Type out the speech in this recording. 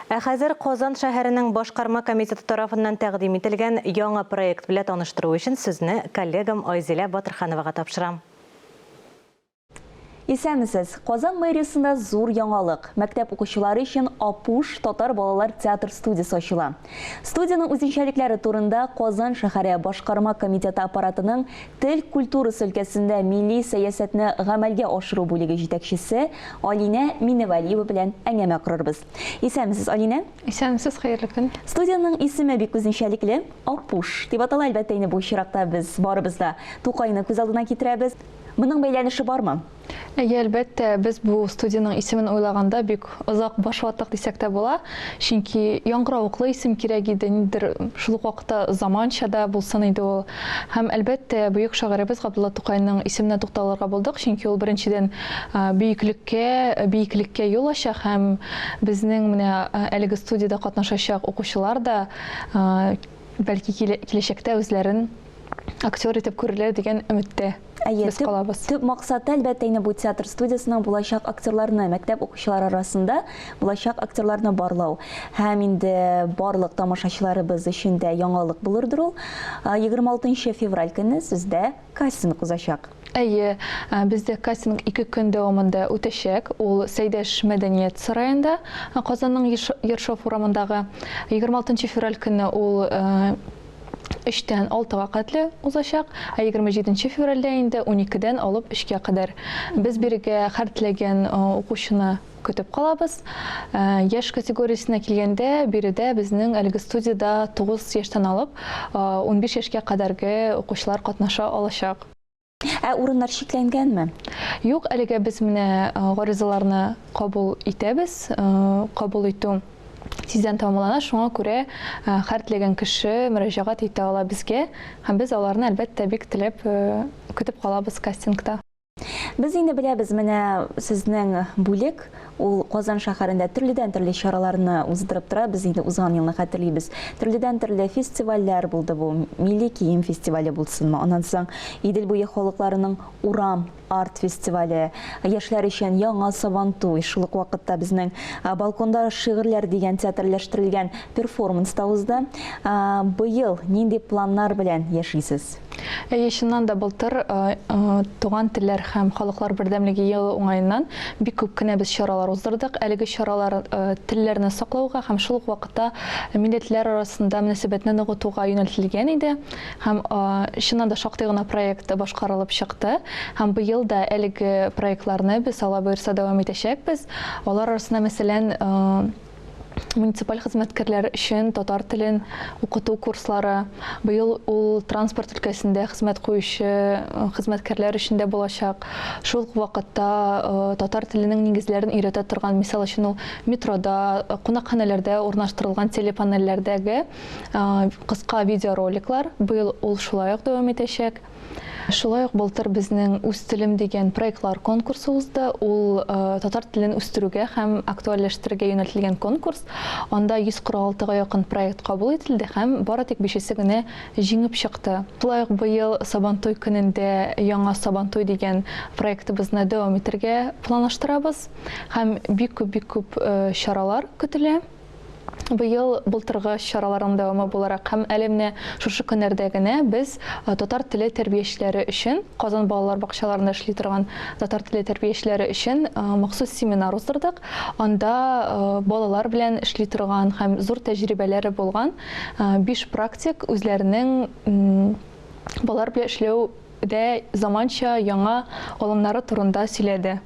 Ә хәзер Казан шәһәренең Башкарма комитеты тарафыннан тәкъдим ителгән яңа проект белә таныштыру өчен сүзне коллегам Айзилә Батырхановага тапшырам. Исәнмесез! Казан мэриясендә зур яңалык, мәктәп укучылары өчен Апуш татар балалар театр студиясе ачыла. Студиянең үзенчәлекләре турында Казан шәһәре Башкарма комитеты аппаратының Тел культурасы өлкәсендә милли сәясәтне гамәлгә ашыру бүлеге җитәкчесе Алинә Миневалиева белән әңгәмә корырбыз. Исәнмесез, Алинә! Исәнмесез, хәерле көн! Студиянең исеме бик үзенчәлекле, Апуш дип атала, әлбәттә инде, бу чиракта без барыбыз да Тукайны күз алдына китерәбез. Моның бәйләнеше бармы? Әйе, әлбәттә, без бу студиянең исемен уйлаганда бик озак баш ваттык дисәк тә була, чөнки яңгыравыклы исем кирәк иде, ниндидер шул ук вакытта заманча да булсын иде ул. Һәм, әлбәттә, бөек шагыйребез Габдулла Тукайның исеменә тукталырга булдык, чөнки ул, беренчедән, бөеклеккә, биеклеккә юл ача һәм безнең менә әлеге студиядә катнашачак укучылар да, бәлки, киләчәктә үзләрен актер итеп күрерләр дигән өметтә. Әйе, без калабыз. Төп максаты, әлбәттә, инде бу театр студиясенең булачак актерларны, мәктәп укучылары арасында булачак актерларны барлау. Һәм инде барлык тамашачыларыбыз өчен дә яңалык булырдыр ул. 26 февраль көне сездә кастинг узачак. Әйе, бездә кастинг ике көн дәвамында үтәчәк. Ул Сәйдәш мәдәният сараенда, Казанның Ершов урамындагы. 26 февраль көне ул өчтән алтыга катле узачак, ә егерме җиденче февральдә инде уникедән алып өчкә кадәр. Без бирегә һәр теләгән укучыны көтеп калабыз. Яшь категориясенә килгәндә, биредә безнең әлеге студиядә тугыз яшьтән алып унбиш яшькә кадәрге укучылар катнаша алачак. Ә урыннар чикләнгәнме? Юк, әлегә без менә гаризаларны кабул итәбез. Кабул итү тиздән тамамлана, шуңа күрә хәртлеген кеше мөрәҗәгать итә ала безгә, һәм без аларны әлбәттә бик теләп көтеп калабыз кастингта. Без инде беләбез менә сезнең бүлек Ул Казан шәһәрендә төрледән-төрле чараларны уздырып тора. Без инде узган елны хәтерлибез. Төрледән-төрле фестивальләр булды бу. Милли кием фестивале булсынмы, аннан соң Идел буе халыкларының урам арт-фестивале, яшьләр өчен Яңа сабантуй, шул ук вакытта безнең Балконда шигырьләр дигән театрләштерелгән перформанс та узды. Быел нинди планнар белән яшисез? Әйе, чыннан да былтыр Туган телләр һәм халыклар бердәмлеге елы уңаеннан бик күп кенә без чаралар уздырдык. Әлеге чаралар телләрне саклауга һәм шул ук вакытта милләтләр арасында мөнәсәбәтне ныгытуга юнәлтелгән иде. Һәм чыннан да шактый гына проект башкарылып чыкты. Һәм быел да әлеге проектларны без, Алла боерса, дәвам итәчәкбез. Алар арасында, мәсәлән, муниципаль хезмәткәрләр өчен татар телен укыту курслары. Быел ул транспорт өлкәсендә хезмәт куючы э, хезмәткәрләр өчен дә булачак. Шул ук вакытта э, татар теленең нигезләрен өйрәтә торган, мисал өчен ул метрода, э, кунакханәләрдә урнаштырылган телепанельләрдәге кыска видеороликлар. Быел ул шулай ук дәвам итәчәк. Шулай ук былтыр безнең Үз телем дигән проектлар конкурсы узды. Ул татар телен үстерүгә һәм актуальләштерергә юнәлтелгән конкурс. Анда 146 га якын проект кабул ителде һәм бары тик бишесе генә җиңеп чыкты. Шулай ук быел Сабантуй көнендә Яңа Сабантуй дигән проектыбызны дәвам итергә планлаштырабыз һәм бик күп, бик күп чаралар көтелә. Быел былтыргы чараларның дәвамы буларак һәм әле менә шушы көннәрдә генә без татар теле тәрбиячеләре өчен, Казан балалар бакчаларында эшли торган татар теле тәрбиячеләре өчен махсус семинар уздырдык. Анда балалар белән эшли торган һәм зур тәҗрибәләре булган биш практик үзләренең балалар белән эшләү дә заманча, яңа алымнары турында сөйләде.